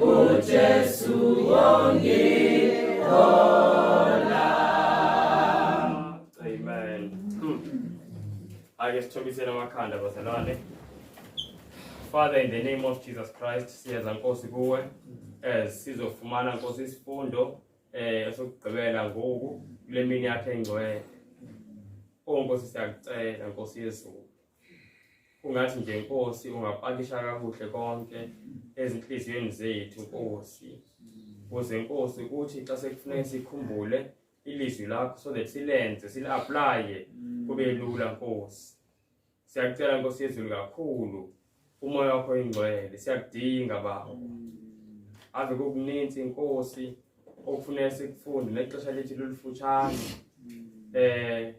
uJesu wongihola amen hmm. ake sithobisele amakhanda bazalwane Father in the name of Jesus Christ siyeza Nkosi kuwe eh sizofumana Nkosi isifundo eh esokugqibela ngoku kule mini yakhe engcwele Oh Nkosi siyakucela Nkosi yezulu ungathi nje nkosi ungapakisha kakuhle konke ezinhliziyweni zethu nkosi kuze nkosi ukuthi xa sekufuneka sikhumbule ilizwi lakho so that silenze sili-aplaye kube lula nkosi siyakucela nkosi yezulu kakhulu umoya wakho ingcwele siyakudinga baba ave kokuninzi inkosi okufuneka sikufunde nexesha lethu lolufutshane um eh,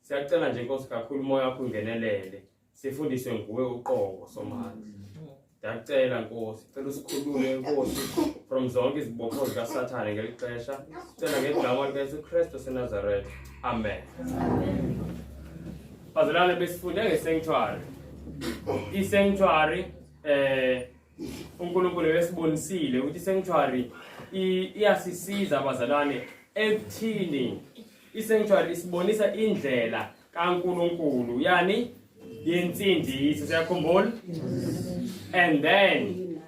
Siyacela nje Nkosi kakhulu umoya wakho ungenelele. Sifundiswe nguwe uqobo somandla. Ndiyacela Nkosi, cela usikhulule Nkosi from zonke izibopho zika Sathane ngelixesha. Sicela ngegama lika Jesu Kristu seNazareth. Amen. Bazalwane besifunde ngesanctuary. I-sanctuary eh uNkulunkulu wesibonisile ukuthi sanctuary iyasisiza abazalwane ekuthini isanctuary isibonisa indlela kaNkulunkulu yani yensindiso siyakhumbula and then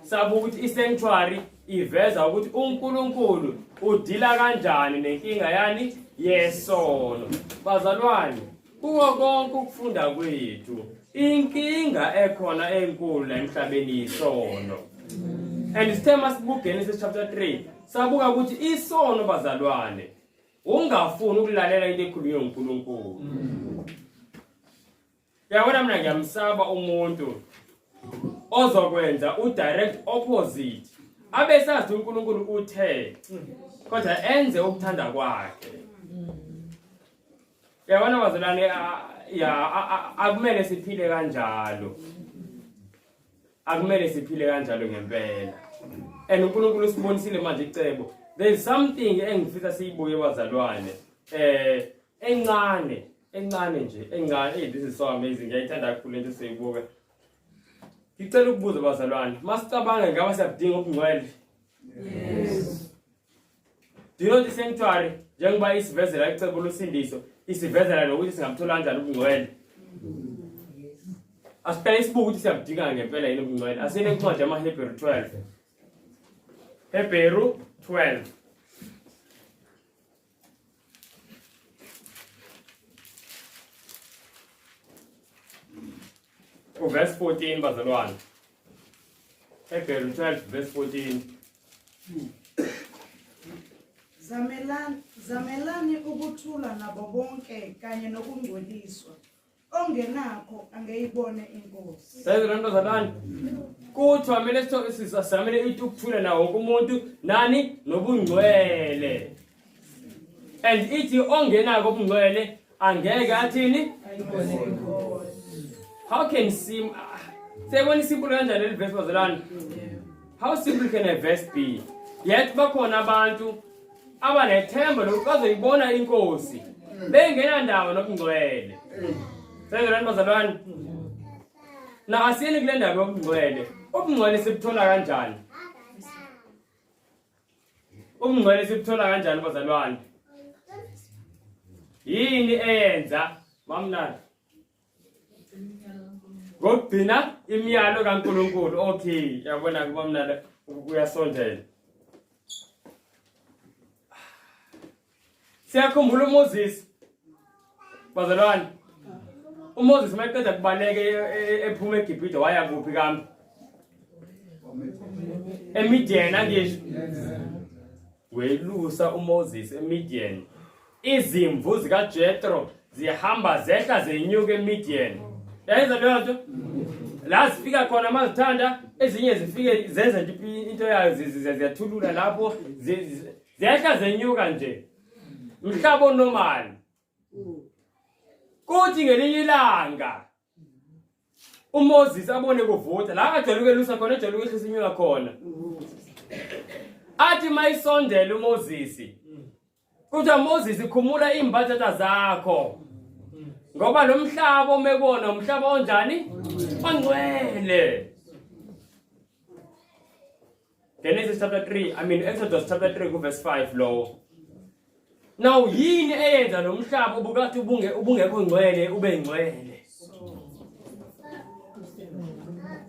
sabuka ukuthi isanctuary iveza ukuthi uNkulunkulu udila kanjani nenkinga yani yesono bazalwane Kuwo konke ukufunda kwethu, inkinga ekhona enkulu la emhlabeni yisono. And sithe masibuGenesis chapter 3, sabuka ukuthi isono bazalwane ungafuni ukulalela into ekhulunywe uNkulunkulu. Yabona mina ngiyamsaba umuntu ozokwenza udirect opposite. Abe sazi uNkulunkulu uthe kodwa enze ukuthanda kwakhe. Yabona bazalwane ya akumele siphile kanjalo. Akumele siphile kanjalo ngempela. And uNkulunkulu usibonisile manje icebo. There is something engifisa siyibuke bazalwane. Eh encane, encane nje, encane. Hey, this is so amazing. Ngiyayithanda kakhulu into siyibuke. Ngicela ukubuza bazalwane, masicabanga ngaba siyakudinga ubungcwele. Yes. Do you know the sanctuary njengoba isivezela icebo losindiso isivezela nokuthi singamthola kanjani ubungcwele asiphela isibuka ukuthi siyabudinga ngempela yini ubungcwele asine incwadi yamahebheru 12 hebheru 12 uverse 14 bazalwane Hebrew 12 verse 14. Zamelani zamelani ukuthula nabo bonke kanye nokungcweliswa. Ongenakho angeyibone inkosi. Sezwe lento zabani? Kuthi wamele sitho sizamele ithi ukuthula nawo wonke umuntu nani nobungcwele. and ithi ongenako ubungcwele angeke athini how can sim ah, sebona isimple kanjani leli verse bazalwane how simple can a verse be yet bakhona abantu abanethemba lokuthi bazoyibona inkosi bengenandawo nokungcwele sezolani bazalwane na asiyeni kule ndaba yobungcwele ubungcwele sibuthola kanjani Ubungcwele sibuthola kanjani bazalwane? Yini eyenza mamnandi? Ngokugcina imiyalo kaNkuluNkulu. Okay, yabona ke mamnandi uyasondela. Siyakhumbula uMoses. Bazalwane. UMoses mayeqeda kubaleka e- e- e- ephuma eGibhide waya kuphi kambe? eMidian angisho welusa uMoses eMidian izimvu zikaJethro zihamba zehla zenyuka eMidian yayenza leyo nto la zifika khona mazithanda ezinye zifike zenza nje into yayo ziyathulula lapho ziyehla zenyuka nje mhlaba onomali kuthi ngelinye ilanga uMoses abone kuvutha la ajwayele ukwelusa khona ejwayele ukwehlisa inyuka khona athi mayisondela uMoses kuthiwa Moses khumula imbathatha zakho ngoba lo mhlaba omekona umhlaba onjani ongcwele Genesis chapter 3, I mean Exodus chapter 3 verse 5 lowo. Now yini eyenza lo mhlaba ubukathi ubunge ubungekho ngcwele ube ngcwele?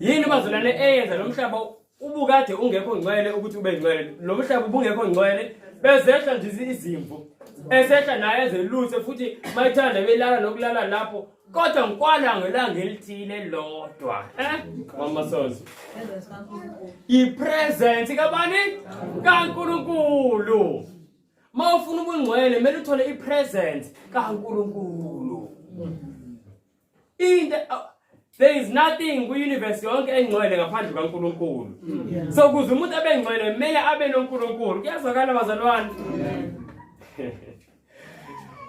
Yini bazolane eyenza lo mhlaba ubukade ungekho ngcwele ukuthi ube ngcwele? Lo mhlaba ubungekho ngcwele bezehla nje izimvu. Esehla naye ezeluse futhi mayithanda belala nokulala lapho kodwa ngikwala ngelanga elithile lodwa eh mama sonzo ipresence kabani kaNkuluNkulu mawufuna ubungcwele kumele uthole ipresence kaNkuluNkulu into there is nothing ku universe yonke engcwele ngaphandle kaNkuluNkulu so kuze umuntu abe ngcwele kumele abe noNkuluNkulu kuyazwakala bazalwane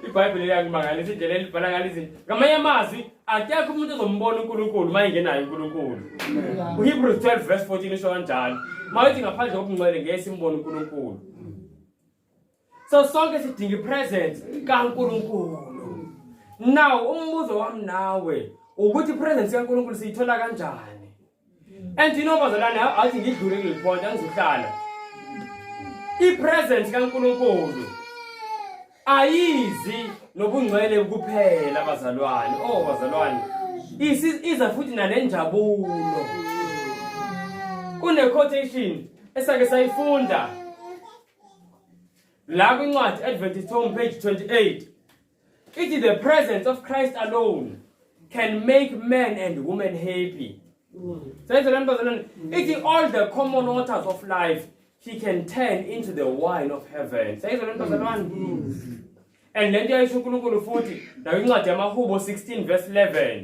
ibhayibhile liyakumangalisa indlela elibhala ngalo izinto ngamanye amazwi akekho umuntu ozombona unkulunkulu uma engenayo unkulunkulu uhebrews 12 verse 14 usho kanjalo uma uthi ngaphandle kobungcwele ngeke simbone unkulunkulu so sonke sidinga ipresence kankulunkulu now umbuzo wami nawe ukuthi ipresence kankulunkulu siyithola kanjani and inobazalwane athi ngidlule kuleli point angizohlala ipresence kaNkuluNkulu ayizi nobungcwele kuphela bazalwane oh bazalwane iza futhi nalenjabulo kune quotation esake sayifunda la kwincwadi Adventist Home page 28 Ithi the presence of Christ alone can make men and women happy. Senze le ntozana ithi all the common waters of life he can turn into the wine of heaven. Senze le ntozana and le nto yayisho uNkulunkulu futhi nayo incwadi yamahubo 16 verse 11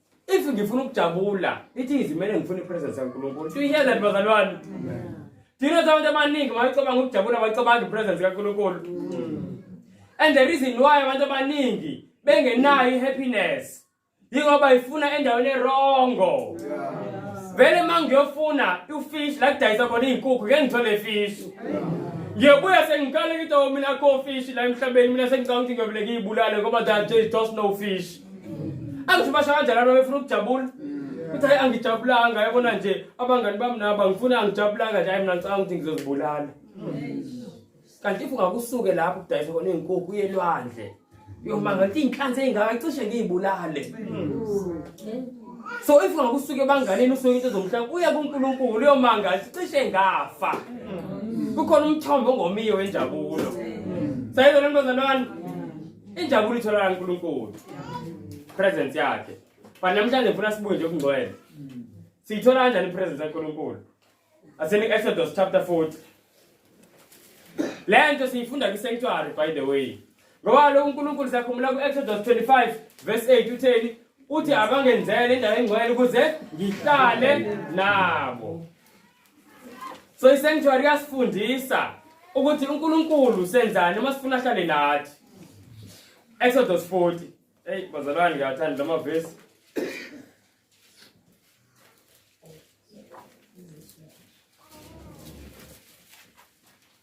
if ngifuna ukujabula ithi izimele ngifuna ipresence kaNkulunkulu do you hear that bazalwane thina abantu abaningi mayicabanga ukujabula bayicabanga ipresence kaNkulunkulu and the reason why abantu abaningi bengenayo ihappiness yingoba ifuna endaweni erongo vele uma ngiyofuna ufish la kudayisa khona iy'nkukhu ngeke ngithole fish ngiyobuya sengikale ngithi o oh, mina akho fish la emhlabeni mina sengicanga ukuthi ngiyobele ngiyibulale ngoba that there is just no fish angisho basho kanjani abantu befuna ukujabula ukuthi hayi angijabulanga yabona nje abangani bami nabo angifuni angijabulanga nje hayi mina ngicabanga ukuthi ngizozibulala kanti if ungakusuke lapho kudayisa khona iy'nkukhu uye lwandle yoma ngathi iy'nhlanzi ey'ngaka cishe ngiyibulale so if ungakusuke ebanganeni usuke into zomhlaba uye kunkulunkulu uyomanga cishe ngafa kukhona umthombo ongomiyo wenjabulo sayizona ntozanan Injabulo itholakala kuNkulunkulu. Presence yakhe. But namhlanje ngifuna sibuye nje okungcwele. Siyithola kanjani ipresence kaNkulunkulu? Asini Exodus chapter 40. Lento siyifunda kwisanctuary by the way. Ngoba lo uNkulunkulu sakhumbula kuExodus 25 verse 8 utheni? Uthi abangenzele indawo engcwele ukuze ngihlale nabo. So i-sanctuary yasifundisa ukuthi uNkulunkulu senzani uma sifuna ahlale nathi. Exodus 40. Hey bazalwane ngiyathanda lama verse.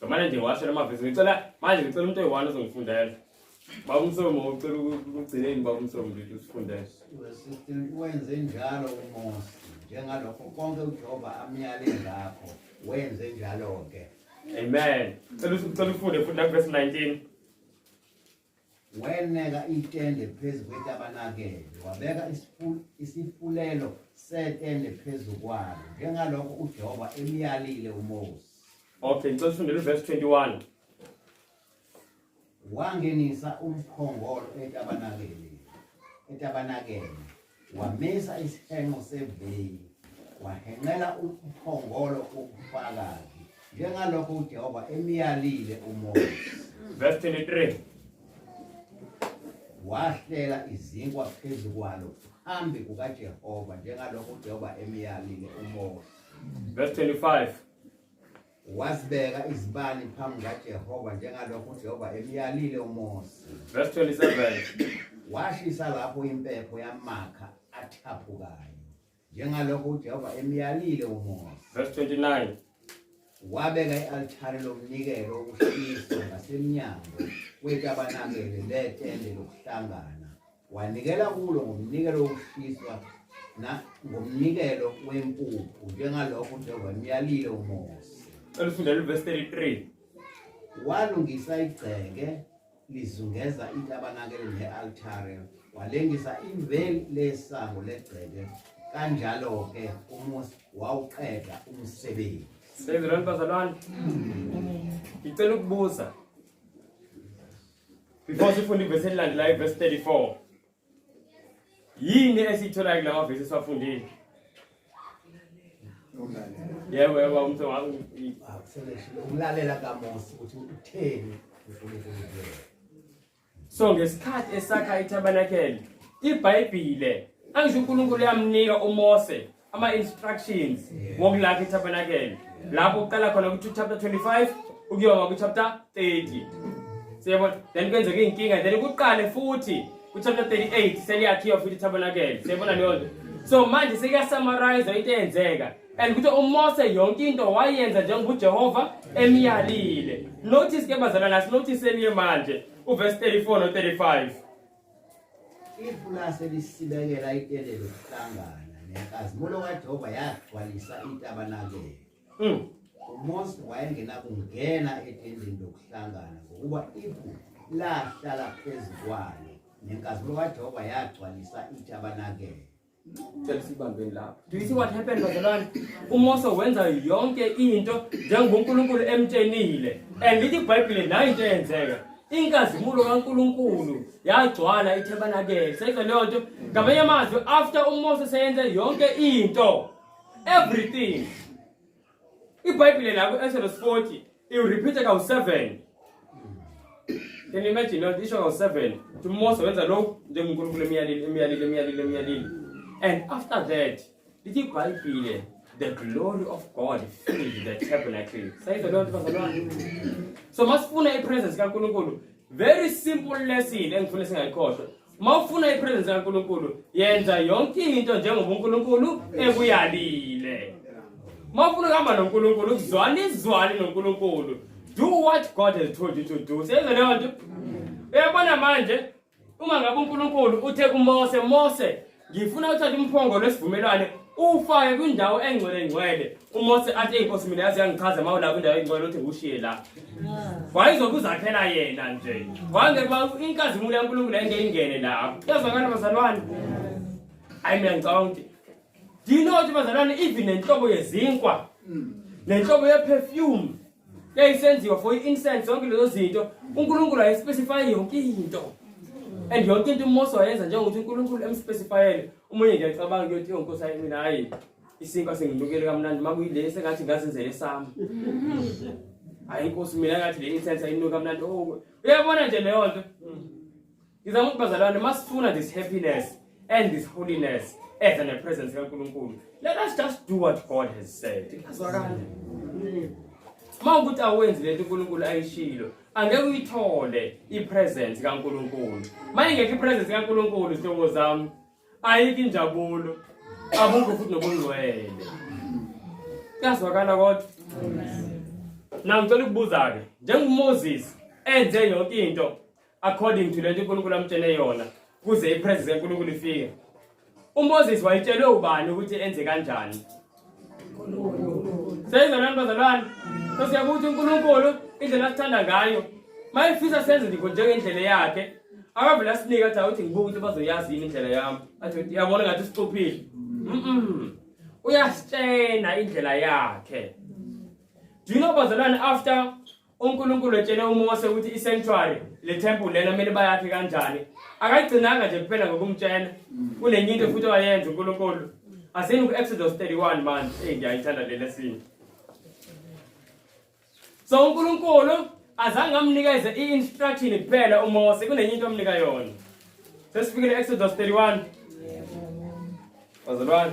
so manje nje washo lamavesi ngicela manje ngicela umuntu oyi-one ozongifundela baba umsomo ucela ukugcineni baba umsomo nje usifundele wenze njalo umosi njengalokho konke ujehova amyale ngakho wenze njalo-ke amen cela ufunde futhi nakuvesi 19 Weneka itende phezu kwetabernakele, wabeka isifu- isifulelo setende phezu kwalo, njengalokho uJehova emyalile uMose. Okay, ngicela ufundele uverse 21. Wangenisa umphongolo etabernakeleni, etabernakeleni, wamisa isihenqo seveyili wahenqela umphongolo ubufakazi njengalokho uJehova emyalile uMose verse 23 wahlela izinkwa phezu kwalo phambi kukaJehova njengalokho uJehova emyalile uMose verse 25 Wazibeka izibani phambi kaJehova njengalokho uJehova emyalile uMose. Verse 27. Washisa lapho impepho yamakha athaphukayo njengalokho uJehova emyalile uMose. Verse 29. Wabeka i-altare lomnikelo wokushisa ngasemnyango wetabernakele letende lokuhlangana Wanikela kulo ngomnikelo wokushiswa nangomnikelo wempuphu njengalokho uJehova emyalile uMose. Elifunda livesi 33. Walungisa igceke lizungeza itabernakele ne-altare walengisa imveli lesango legceke kanjalo-ke umusi wawuqeda umsebenzi sezilwane bazalwane ngicela ukubuza Before sifunde ivesi elilandelayo ivesi 34. Yini esiyitholayo kulawa vesi esiwafundile? Yebo yebo umthe wami. Umlalela kaMose ukuthi utheni uNkulunkulu. So ngesikhathi esakha itabernakele, iBhayibhile angisho uNkulunkulu yamnika uMose ama-instructions ngokulakha itabernakele lapho uqala khona kuchapter 25 ukuyoba kuchapter 30 siyabona then kwenzeka iy'nkinga then kuqale futhi kuchapter 38 seliyakhiwa futhi itabernakele siyabona leyo nto so manje sekuyasamarayizwa into eyenzeka and kuthi umose yonke into wayenza njengoba ujehova emyalile notice ke bazalwana sinotice eliye manje uverse 34 no-35 Ipulazi elisibekela itende lokuhlangana nenkazimulo kaJehova yagcwalisa itabernakele. Mm. UMose wayengenakungena etendeni lokuhlangana ngokuba ipu lahlala phezu kwalo nenkazimulo kaJehova yagcwalisa itabernakele. cela sibambeni lapho do you see what happened bazalwane uMose wenza yonke into njengoba uNkulunkulu emtshenile and lithi iBhayibheli nayo into eyenzeka inkazimulo kaNkulunkulu yagcwala iTabernacle seyizwa leyo nto ngamanye amazwi after uMose seyenze yonke into everything ibhayibhile la ku-exodus 40 iwuriphithe kawu-7 can you imagine loo nto isho kawu-7 ukuthi umose wenza lokhu njengonkulunkulu emyalile emyalile emyalile emyalile and after that lithi ibhayibhile the glory of god filled the tabernacle sayizwa loo nto bazalwane so masifuna i-presence kankulunkulu very simple lesson engifuna singayikhohlwa uma ufuna ipresence kaNkulunkulu yenza yonke into njengoba uNkulunkulu ekuyalile uma ufuna ukuhamba noNkulunkulu ukuzwana izwane noNkulunkulu do what God has told you to do seyenze leyo nto uyabona manje uma ngabe uNkulunkulu uthe kuMose Mose ngifuna uthathe umphongolo wesivumelwane ufake kwindawo engcwele ngcwele umose athi inkosi mina yazi yangichaza uma ulapho indawo engcwele uthi ngiwushiye la wayezokuzakhela yena nje wangekuba inkazimulo yankulunkulu engeyingene lapho yazwakala bazalwane hayi mina ngicabanga ukuthi ndinothi bazalwane even nenhlobo yezinkwa nenhlobo yeperfume yayisenziwa for i-incense zonke lezo zinto unkulunkulu ayespecifye yonke into and yonke into umose wayenza njengokuthi unkulunkulu emspecifyele umunye nje acabanga kuyothi yonkosi ayi mina hayi isinkwa singilukele kamnandi uma kuyile sengathi ngazenzele sami hayi inkosi mina ngathi le incense ayinuka kamnandi oh, uyabona nje leyo nto Ngizama ukuthi bazalwane masifuna this happiness and this holiness as an presence kaNkulunkulu. Let us just do what God has said. Azwakala. Uma ukuthi awenzi lento uNkulunkulu ayishilo, angeke uyithole ipresence kaNkulunkulu. Maye ngeke ipresence kaNkulunkulu izinto zami. Ayiki injabulo. Abukho futhi nobungcwele. Kuyazwakala kodwa. Amen. Now ngicela ukubuza ke, njengoMoses enze yonke into according to lento uNkulunkulu amtshele yona kuze ipresence kaNkulunkulu ifike uMoses wayitshelwe ubani ukuthi enze kanjani seyizolani bazalwane sesiyakuthi uNkulunkulu indlela asithanda ngayo mayefisa senze ndikho njengendlela yakhe akavele asinike athi awuthi ngibuka ukuthi bazoyazi yini indlela yami athi yabona ngathi sicuphile uyasitshena indlela yakhe do you know bazalwane after uNkulunkulu etshele uMose ukuthi i-sanctuary le temple lena kumele bayakhe kanjani akayigcinanga nje kuphela ngokumtshela kunenye into futhi owayenza uNkulunkulu asini ku-exodus 31 manje eyi ngiyayithanda le lesini so uNkulunkulu azange amnikeze i-instruction kuphela uMose kunenye into amnika yona sesifikile exodus 31 wazalwane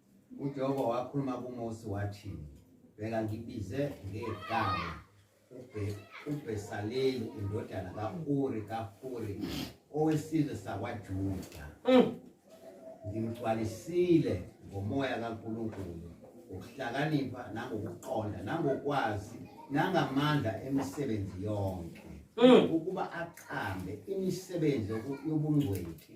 UJehova wakhuluma kuMose wathi, Bheka ngibize ngegama uBhesaleli indodana ka-Uri kaHuri owesizwe sakwaJuda. Mm. Ngimgcwalisile ngomoya kaNkulunkulu ukuhlakanipha nangokuqonda nangokwazi nangamandla emisebenzi yonke mm. ukuba aqambe imisebenzi yobungcweti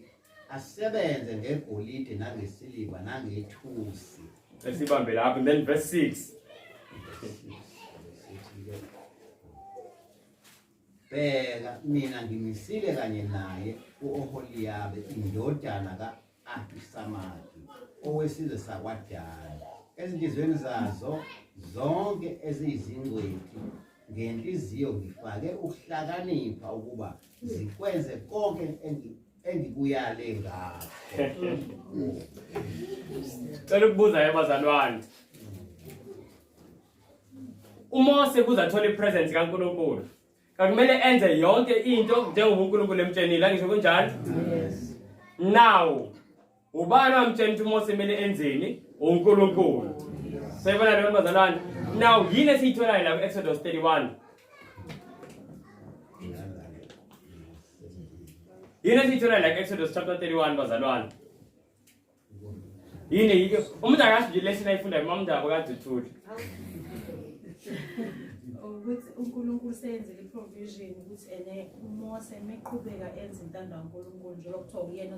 asebenze ngegolide nangesiliva nangethusi esibambe lapho and then verse 6 bheka mina ngimisile kanye naye u-oholiyabe indodana ka-ahisamaki owesizwe sakwadala ezinhliziyweni zazo zonke eziyizingcwethi ngenhliziyo ngifake ukuhlakanipha ukuba zikwenze konke engikuyale ngakho cela ukubuza yabazalwane umose kuze athole ipresence kankulunkulu kakumele enze yonke into njengoba unkulunkulu emtshenile angisho kunjalo now Ubani wamtshela ukuthi uMose kumele enzeni? UNkulunkulu. Sebona leyo bazalwane. Now yini esiyitholayo la ku-Exodus 31? Yini esiyitholayo la ku-Exodus chapter 31 bazalwane? Yini yike umuntu akazi nje lesson ayifundayo uma umuntu akade uthule. ukuthi uNkulunkulu seyenzele iprovision ukuthi ene uMose meqhubeka enza intando kaNkulunkulu njengoba kuthiwa uyena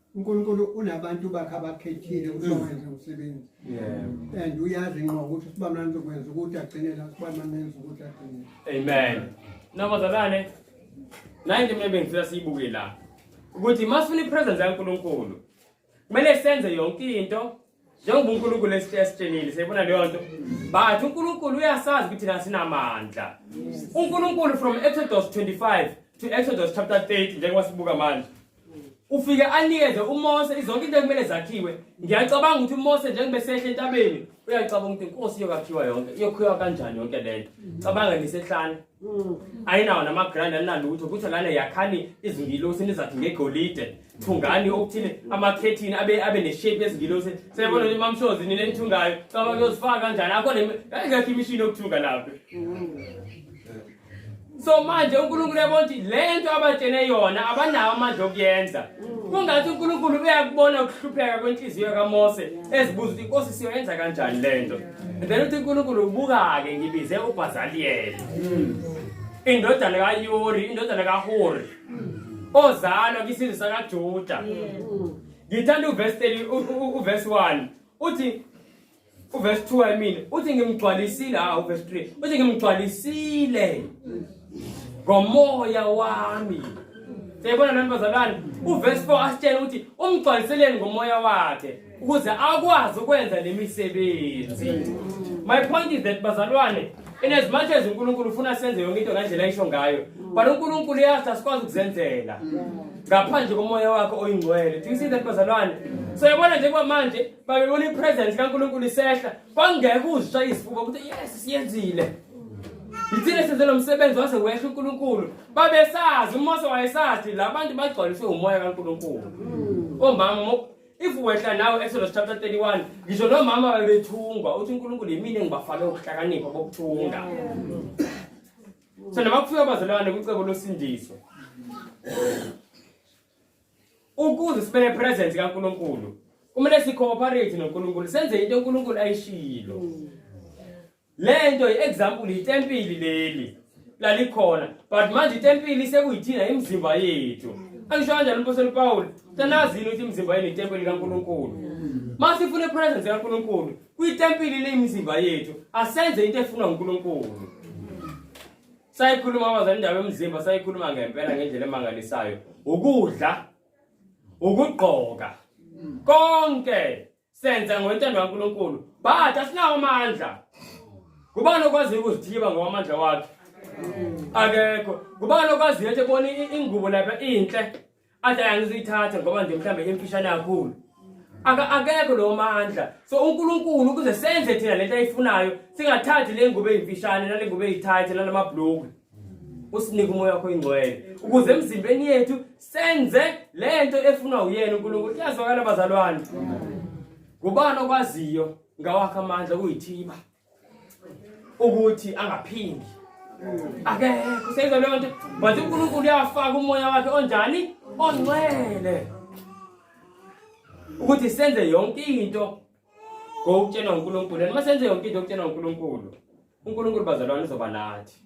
uNkulunkulu unabantu bakhe abakhethile ukuthi mm. bawenze umsebenzi and uyazi ngqo ukuthi usibamnani uzokwenza ukuthi agcinela usibamnani enza ukuthi agcinele amen nabazalwane naye into mina bengifisa siyibuke la ukuthi uma sifuna ipresence yaNkulunkulu kumele senze yonke into njengoba uNkulunkulu esitshenile siyibona leyo nto but uNkulunkulu uyasazi ukuthi thina sinamandla uNkulunkulu from Exodus 25 to Exodus chapter 30 njengoba sibuka manje ufike anikeze uMose izonke into ekumele zakhiwe ngiyacabanga ukuthi uMose njengoba esehle entabeni uyacabanga ukuthi inkosi iyokakhiwa yonke iyokhiwa kanjani yonke lento cabanga nisehlane Mm. ayinawo namagrand aninalutho kuthiwa lana yakhani izingilosi nizathi ngegolide thungani okuthile amakhethini abe abe neshape ezingilosi seyabona ukuthi mamshozi nina enithungayo caba kuyozifaka kanjani akho ngekho imishini yokuthunga lapho so manje unkulunkulu yabona ukuthi le nto abatshene yona abanawo amandla okuyenza kungathi unkulunkulu uyakubona ukuhlupheka kwenhliziyo kamose ezibuza ukuthi inkosi siyoyenza kanjani le nto then uthi unkulunkulu ubuka-ke ngibize ubhazaliyeli hmm. indodana kayuri indodana kahori ozalwa kwisizwe sakajuda hmm. ngithanda uvesi uvesi one uthi uvesi two i mean uthi ngimgcwalisile ha ah, uvesi three uthi ngimgcwalisile ngomoya wami siyayibona nani bazalwane uvesi four asitshela ukuthi umgcwaliseleni ngomoya wakhe ukuze akwazi ukwenza le misebenzi my point is that bazalwane in as much as unkulunkulu ufuna senze yonke into ngendlela ayisho ngayo but unkulunkulu uyazi asikwazi ukuzenzela ngaphandle komoya wakhe oyingcwele do you see that bazalwane so yabona nje kwamanje babebona ipresence kankulunkulu isehla kwangeke uzisha isifuba ukuthi yes siyenzile yithina senze lo msebenzi wase wehla unkulunkulu babesazi umose wayesazi la bantu bagcwaliswe umoya kankulunkulu omama if wehla nawe exodus chapter 31 ngisho nomama babethungwa uthi unkulunkulu yimina engibafake ukuhlakanipha bokuthunga so noma kufika abazalwane kwicebo losindiso ukuze sibe nepresence kankulunkulu kumele sicooperate nonkulunkulu senze into unkulunkulu ayishilo lento iexample itempili leli lalikhona but manje itempili sekuyithina imizimba yethu angisho kanjani umpostoli Paul tanazini ukuthi imizimba yenu itempili kaNkuluNkulu mase ifuna ipresence kaNkuluNkulu kwitempili leyimizimba yethu asenze into efunwa uNkuluNkulu sayikhuluma abazali indaba yomzimba sayikhuluma ngempela ngendlela emangalisayo ukudla ukugqoka konke senza ngontando kaNkulunkulu but asinawo amandla ngubani okwaziyo ukuzithiba ngowamandla wakhe akekho ngubani okwaziyo ukuthi bona ingubo lapha inhle athi ayangiziyithatha ngoba nje mhlawumbe imfishane kakhulu akekho lowo mandla so unkulunkulu ukuze senze thina le nto ayifunayo singathathi le ngubo eyimfishane nale ngubo eyithayithi nalamabhulukwe usinike umoya wakho ingcwele ukuze emzimbeni yethu senze lento efunwa uyena uNkulunkulu kuyazwakala bazalwane ngubani okwaziyo ngawakhe amandla kuyithiba ukuthi angaphindi akekho senza leyo nto manje uNkulunkulu uyafaka umoya wakhe onjani ongcwele ukuthi senze yonke into Go ukutshelwa uNkulunkulu. And masenze yonke into okutshelwa uNkulunkulu. uNkulunkulu bazalwane uzoba nathi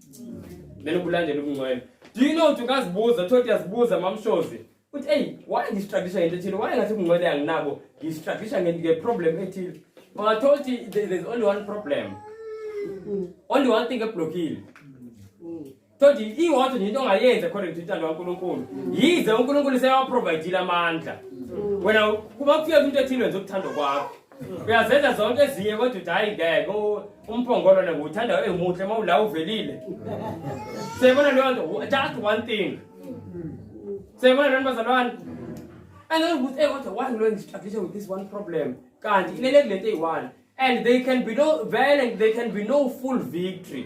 then ubulandela ubungcwele do you know ukuthi ungazibuza thothi yazibuza mamshozi uthi eyi why ngistruglisha ngento ethile why ngathi ubungcwele anginabo ngistruglisha ngeproblem ethile ungathola ukuthi there's only one problem only one thing eblockile Toti iwonke nje into ongayenza according to intando kaNkulunkulu. Yize uNkulunkulu seyawaprovidile amandla. Wena kuba kufika into ethile wenza ukuthanda kwakho. Uyazenza zonke ezinye kodwa uthi hayi ngeke u- umphongolo nje uthanda emuhle uma ula uvelile. Siyabona leyo nto just one thing. Siyabona leyo nto bazalwane. And then ukuthi eh kodwa why lo ngistruggle with this one problem. Kanti ilele kulento eyi-one and they can be no vele they can be no full victory.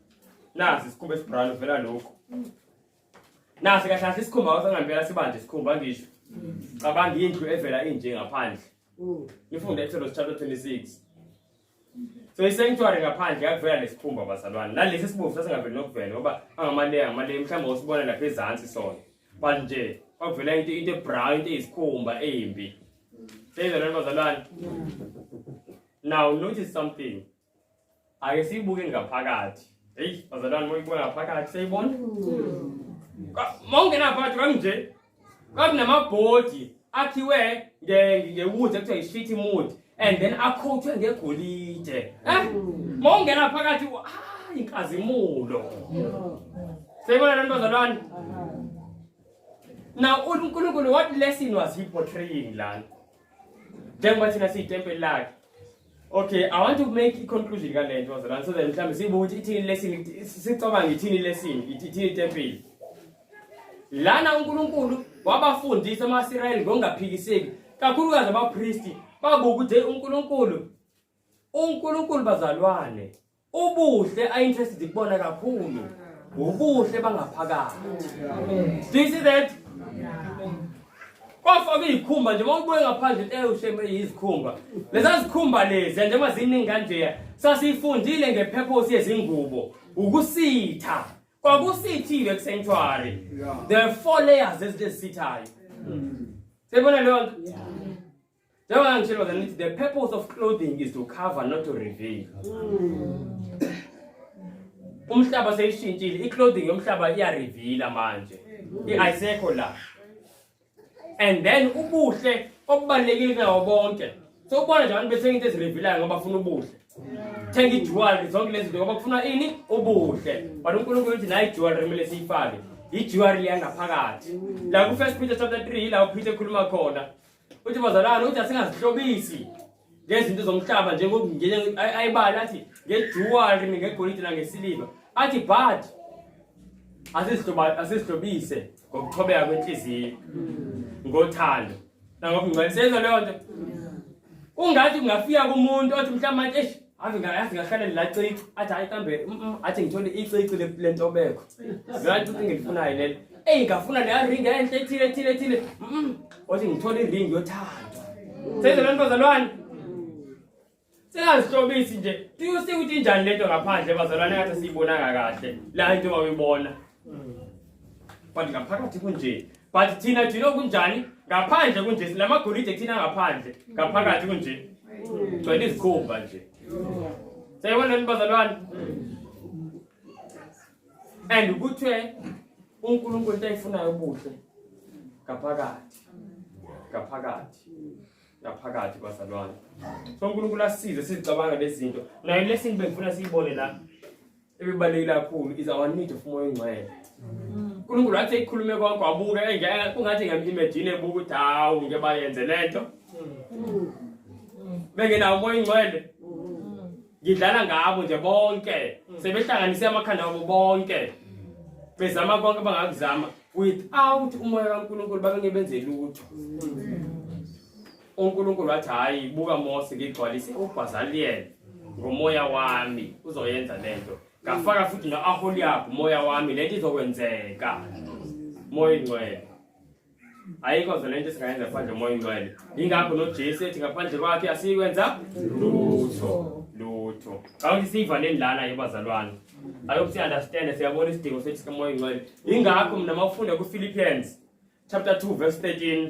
Nasi isikhumba esibrown vela lokho. Nasi kahle kahle isikhumba wathi ngempela sibanje isikhumba ngisho. Cabanga indlu evela inje ngaphandle. Ngifunde Exodus chapter 26. So isanctuary ngaphandle yakuvela lesikhumba bazalwane. Nalesi sibomvu sasingaveli nokuvela ngoba angamaleya ngamaleya mhlawumbe usibona lapha ezansi sona. But nje kwavela into into ebrown into eyisikhumba embi. Seyizalwane bazalwane. Now notice something. ake siyibuke ngaphakathi heyi bazalwane moyibuka ngaphakathi seyibona mawungena ngaphakathi kamnje kwakunamabhodi akhiwe ngewood ekuthiwa yi-street mood and then akhothwe ngegolide eh mawungena phakathi hayi inkazimulo seyibona lani bazalwane now unkulunkulu what lesson was he portraying lana njengoba thina siyitempeli lakhe okay i want to make i-conclusion kale nto wazalwane so that mhlawumbe siyibuke ukuthi ithini lesini sicabanga ithini lesini ithini itempeli lana unkulunkulu wabafundisa ama-israyeli ngokungaphikiseki kakhulukazi abapristi babuka ukuthi unkulunkulu unkulunkulu bazalwane Ubuhle I interested kubona kakhulu. Ubuhle bangaphakathi. Do you see that? Kwafa kuyikhumba nje mawubuye ngaphandle into ewusheme yizikhumba. Leza zikhumba lezi njengoba ziningi kanje sasifundile ngepurpose yezingubo ukusitha. Kwakusithile kusanctuary. There are four layers ezisithayo. Sebona leyo nto? Njengoba ngitshela ukuthi ngithi the purpose of clothing is to cover not to reveal. Umhlaba seyishintshile, i-clothing yomhlaba iyareveala manje. I-ayisekho la. And then ubuhle obubalekile kunawo bonke. So ubona nje abantu bethenga into ezirevealayo ngoba bafuna ubuhle. Thenga i-jewelry zonke lezi zinto ngoba kufuna ini? Ubuhle. But uNkulunkulu uthi nayi jewelry kumele siyifake. I-jewelry yangaphakathi. La ku-First Peter chapter 3 yila uPeter ekhuluma khona. uthi bazalwane uthi asingazihlobisi ngezinto zomhlaba njengoayibali athi ngejuwari ngegolide nangesiliva athi but asizihlobise ngokuthobeka kwenhliziyo ngothando nangokungcwele senza leyo nto ungathi kungafika kumuntu othi mhlawumbe manje ave ngayazi ngahlale ngilacici athi hayi kambe mm, mm, athi ngithole icici le ntobeko ngathi ukuthi ngilifunayo lelo eyi ngafuna leya ringi enhle ethile ethile ethile mm, othi ngithole iringi yothandwa senze loo ntozalwane singazihlobisi nje tuyosike ukuthi injani le nto ngaphandle bazalwane ngathi siyibonanga kahle la into mawuyibona but ngaphakathi kunje but thina thina kunjani ngaphandle kunje silamagolide thina ngaphandle ngaphakathi kunje gcwele izikhumba nje sayibona lento bazalwane and ukuthi uNkulunkulu into ayifunayo ubuhle ngaphakathi ngaphakathi ngaphakathi bazalwane so uNkulunkulu asize sizicabanga lezi zinto nayo lesini bengifuna siyibone la ebebalulekile kakhulu is our need of umoya ongcwele unkulunkulu wathi ekhulume konke wabuke engeke kungathi ngem-imagine ebuka ukuthi hawu ngeke bayenze le nto bengenawo umoya ongcwele ngidlala ngabo nje bonke sebehlanganise amakhanda wabo bonke bezama konke bangakuzama without umoya kankulunkulu babengebenze lutho uNkulunkulu wathi hayi buka Mose ngigcwalise uBhazaliyeli ngomoya wami uzoyenza lento ngafaka futhi no-aholiyabu umoya wami lento izokwenzeka moya ingcwele ayikho nje lento esingayenza ngaphandle moya ingcwele yingakho nojesu ethi ngaphandle kwakhe asiyikwenza lutho lutho kawuthi siyivaleni lana yebazalwane ayobe si-understande siyabona isidingo sethu sikamoya ingcwele yingakho mna mawufunde kufilipians chapter 2 verse 13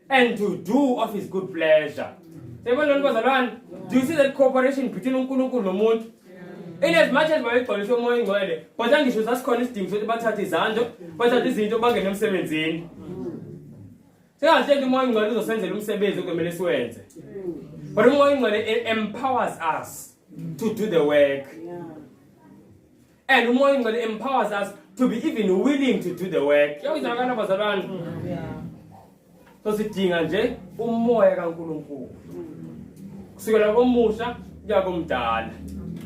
and to do of his good pleasure siyabona lona bazalwane do you see that cooperation between unkulunkulu nomuntu in as much as babegcwaliswe umoya ingcwele but angisho sasikhona isidingo sokuthi bathathe izanto bathathe izinto bangene emsebenzini singahle nto umoya ingcwele uzosenzela umsebenzi okumele siwenze but umoya ingcwele e- empowers us to do the work and umoya ingcwele empowers us to be even willing to do the work yawizakana bazalwane so sidinga nje umoya kaNkuluNkulu kusukela komusha kuya komdala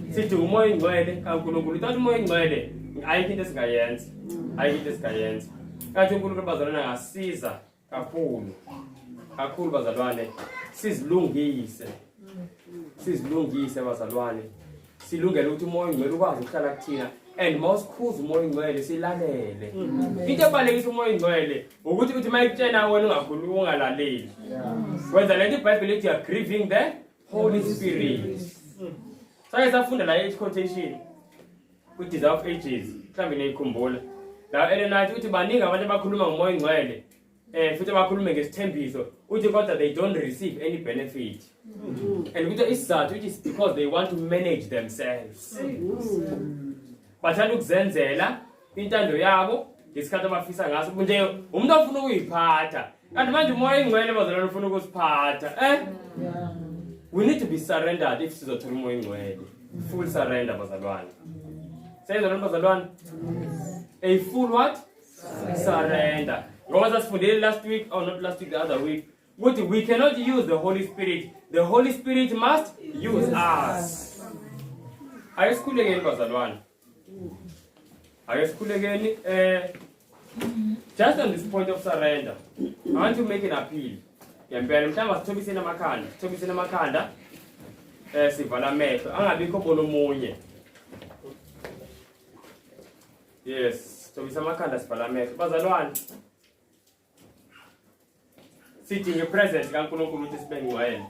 sidinga umoya ingcwele kaNkuluNkulu thatha umoya ingcwele ayikho into esingayenza ayikho into esingayenza kathi uNkulunkulu bazalwane angasiza kakhulu kakhulu bazalwane sizilungise sizilungise bazalwane silungele ukuthi umoya ongcwele ukwazi ukuhlala kuthina and mawusikhuza umoya ongcwele silalele into ebalekisa umoya ongcwele ukuthi ukuthi mayikutshena wena ungakhulumi ungalaleli wenza lento ibhayibheli ethi you're grieving the Holy Spirit. Saye safunda la each quotation ku Desire of Ages. Mhlambe niyikhumbula. La Elena uthi baningi abantu abakhuluma ngomoya ongcwele. Eh futhi abakhulume ngesithembiso. Uthi kodwa they don't receive any benefit. And ukuthi isizathu it is because they want to manage themselves. Bathanda ukuzenzela intando yabo ngesikhathi abafisa ngaso nje umuntu ofuna ukuyiphatha kanti manje umoya ingcwele bazalwane ufuna ukusiphatha eh we need to be surrendered if sizothola umoya ingcwele full surrender bazalwane senzela lento bazalwane a full what surrender ngoba sasifundile last week or oh, not last week the other week ukuthi we cannot use the holy spirit the holy spirit must use us ayisikhulekeni bazalwane Ake sikhulekeni eh just on this point of surrender. I want to make an appeal. Ngempela mhlawumbe sithobiseni amakhanda, sithobiseni amakhanda eh sivala amehlo angabikho bona omunye. Yes, sithobisa amakhanda sivala amehlo. Bazalwane sidinga ipresence kaNkulunkulu ukuthi sibe ngcwele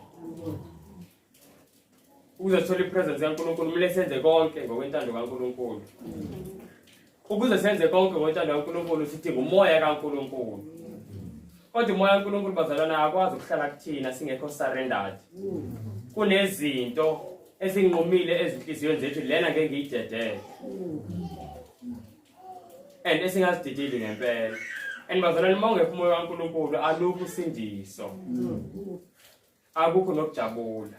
ukuze sithole ipresence kaNkulunkulu kumele senze konke ngokwentando kaNkulunkulu ukuze senze konke ngokwentando kaNkulunkulu sidinga umoya kaNkulunkulu kodwa umoya kaNkulunkulu bazalwana akwazi ukuhlala kuthina singekho surrendered kunezinto ezinqumile ezinhliziyweni zethu lena ngeke ngiyidedele and esingasididili ngempela and bazalwane uma ungekho umoya kaNkulunkulu alukho usindiso akukho nokujabula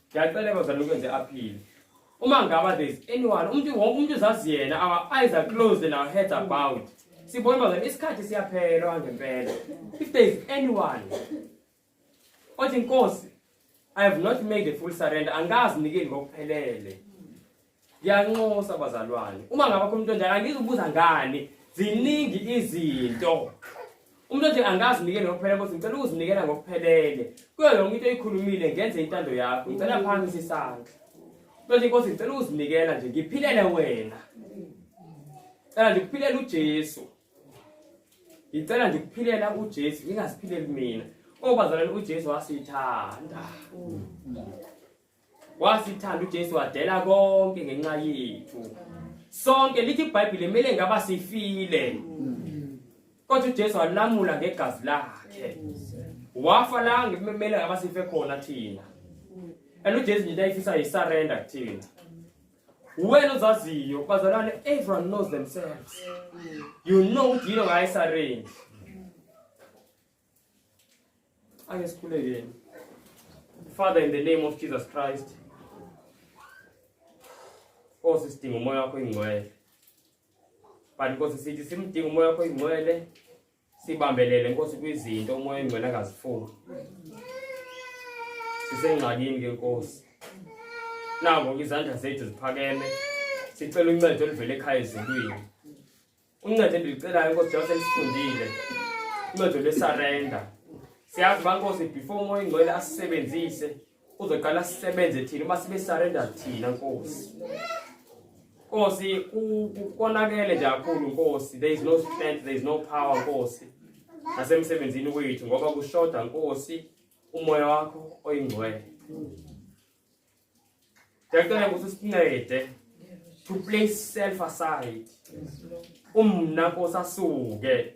ngiyacela bazalwane ukwenze aphile uma ngaba there's anyone umuntu wonke umuntu uzazi yena our eyes are closed and our heads are bowed sibona bazalwane isikhathi siyaphela ngempela if there's anyone Othi inkosi I have not made a full surrender angikazi nikeli ngokuphelele. Ngiyanxosa bazalwane. Uma ngaba khona umuntu onjalo angizubuza ngani ziningi izinto. Umuntu othi angazi nikeli ngokuphelele kodwa ngicela ukuzinikela ngokuphelele. Kuyo yonke into oyikhulumile ngenze intando yakho. Ngicela phansi isandla. Manje inkosi ngicela ukuzinikela nje ngiphilele wena. Cela nje kuphilele uJesu. ngicela ndikuphilela ujesu ngingaziphileli mina obazalwane ujesu wasithanda wasithanda ujesu wadela konke ngenxa yethu sonke lithi ibhayibhile kumele ngaba sifile kodwa ujesu walamula ngegazi lakhe wafa la ngikumele ngaba sife khona thina and ujesu nje into ayifisa yisurrender kuthina wena ozaziyo bazalwane everyone knows themselves you know ukuthi yilo ngayo isarange ake sikhulekeni father in the name of jesus christ nkosi oh, sidinga umoya wakho ingcwele but nkosi sithi simdinga umoya wakho ingcwele sibambelele nkosi kwizinto umoya engcwele akazifuni sisengxakini ke nkosi nako izandla zethu ziphakeme sicela uncedo oluvela ekhaya ezulwini uncedo endilicelayo nkosi njengoba selisifundile uncedo lwesarenda siyazi uba nkosi before umoya ingcwele asisebenzise uzoqala sisebenze thina uma sibe surrender thina nkosi nkosi konakele nje kakhulu nkosi there is no strength there is no power nkosi nasemsebenzini wethu ngoba kushoda nkosi umoya wakho oyingcwele Ngiyacela ukuthi sincede to place self aside. Umna Nkosi asuke.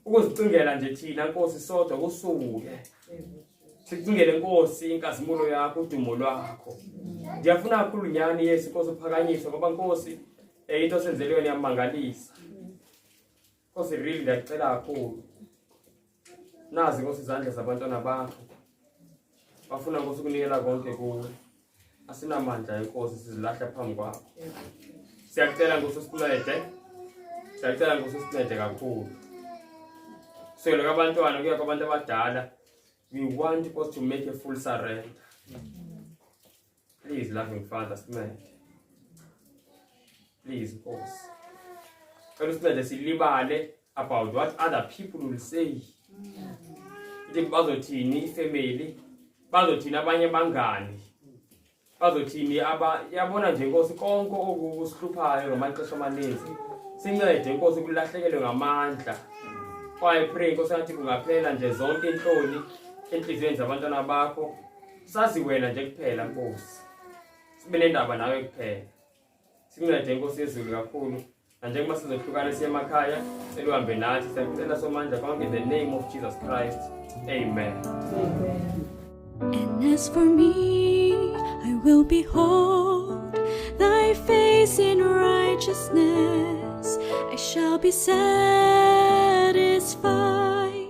Ukuzicingela nje thina Nkosi sodwa kusuke. Sicingele Nkosi inkazimulo yakho udumo lwakho. Ngiyafuna kakhulu nyani Yesu Nkosi uphakanyiswe ngoba Nkosi eh, into senzelweni yamangalisa. Nkosi real ngiyacela kakhulu. Nazi Nkosi izandla zabantwana bakho. Bafuna Nkosi ukunikela konke kuwe. Asinamandla inkosi sizilahla phambi kwakho. Siyacela Nkosi usincede. Siyacela Nkosi usincede kakhulu. Sele kwabantwana kuya kwabantu abadala. We want Nkosi to make a full surrender. Please, loving Father, sincede. Please, Nkosi. Cela usincede silibale about what other people will say. Ukuthi bazothini ifamily, bazothini abanye bangani. Bazothini aba yabona nje Nkosi konke okusihluphayo ngamaxesha amaninzi. Sincede Nkosi kulahlekelwe ngamandla. Kwaye pray Nkosi yathi kungaphela nje zonke inhloni enhliziyweni zabantwana bakho. sazi wena nje kuphela nkosi sibe nendaba nawe kuphela sincede inkosi yezulu kakhulu nanjengoba sizohlukana siye emakhaya seluhambe nathi siyakucela somandla konke in the name of jesus christ amen, amen. And as for me, I will behold thy face in righteousness. I shall be satisfied.